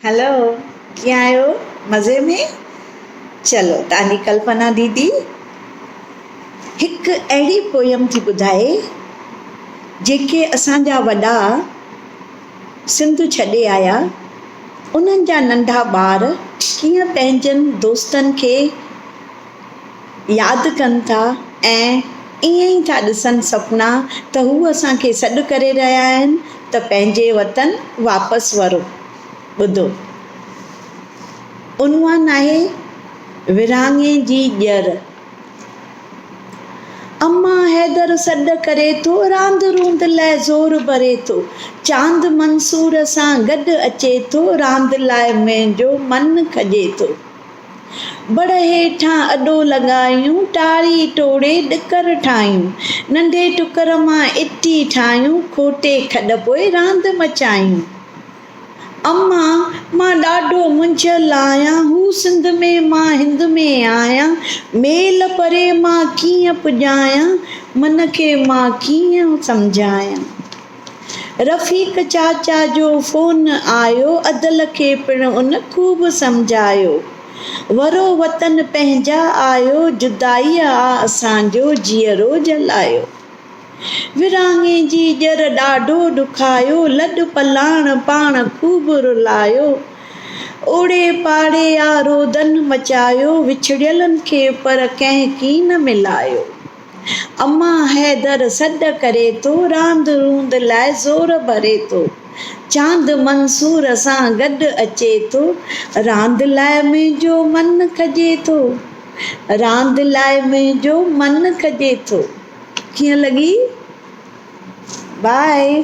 هلو ڪيئن آهيو مزي ۾ چلو تهانجي ڪلپنا ديدي هڪ اهڙي پويم ٿي ٻڌائي جيڪي اسانجا وڏا سنڌ ڇڏي آيا انهن جا ننڍا ٻار ڪيئن پنهنجن دوستن کي ياد ڪن ٿا ۽ ائين ئي ٿا ڏسن سپنا ته هو اسان کي سڏ ڪري رهيا آهن ته پنهنجي وطن واپس ورو. ٻڌو عنوان آهي ورهاڱي جي ڄر. اما حيدر سڏ ڪري ٿو راند روند لاء زور ڀري ٿو چاند منصور سان گڏ اچي ٿو راند لاء منهنجو من کڄي ٿو. بڙ هيٺان اڏو لڳايون، ٽاري ٽوڙي ڏڪر ٺاهيون، ننڍي ٽڪر مان اٽي ٺاهيون، کوٽي کڏ پوء راند مچايون. اما، مان ڏاڍو منجهيل آهيان، هو سنڌ ۾، مان هند ۾ آهيان، ميل پري مان ڪيئن پڄايان، من کي مان ڪيئن سمجهايان؟ رفيق چاچا جو فون آيو ادل کي پڻ ان خوب سمجهايو. ورو وطن پنهنجا آيو جدائيء آ اسان جو جيئرو جلايو. ورهاڱي جي ڄر ڏاڍو ڏکايو لڏ پلاڻ پاڻ خوب رلايو. اوڙي پاڙي آ رودن مچايو وڇڙيلن کي پر ڪنهن ڪين ملايو. امان حيدر سڏ ڪري ٿو، راند روند لاء زور ڀري ٿو، چاند منصور سان گڏ اچي ٿو، راند لاء منهنجو من کڄي ٿو، راند لاء منهنجو من کڄي ٿو. ڪيئن لڳي؟ Bye.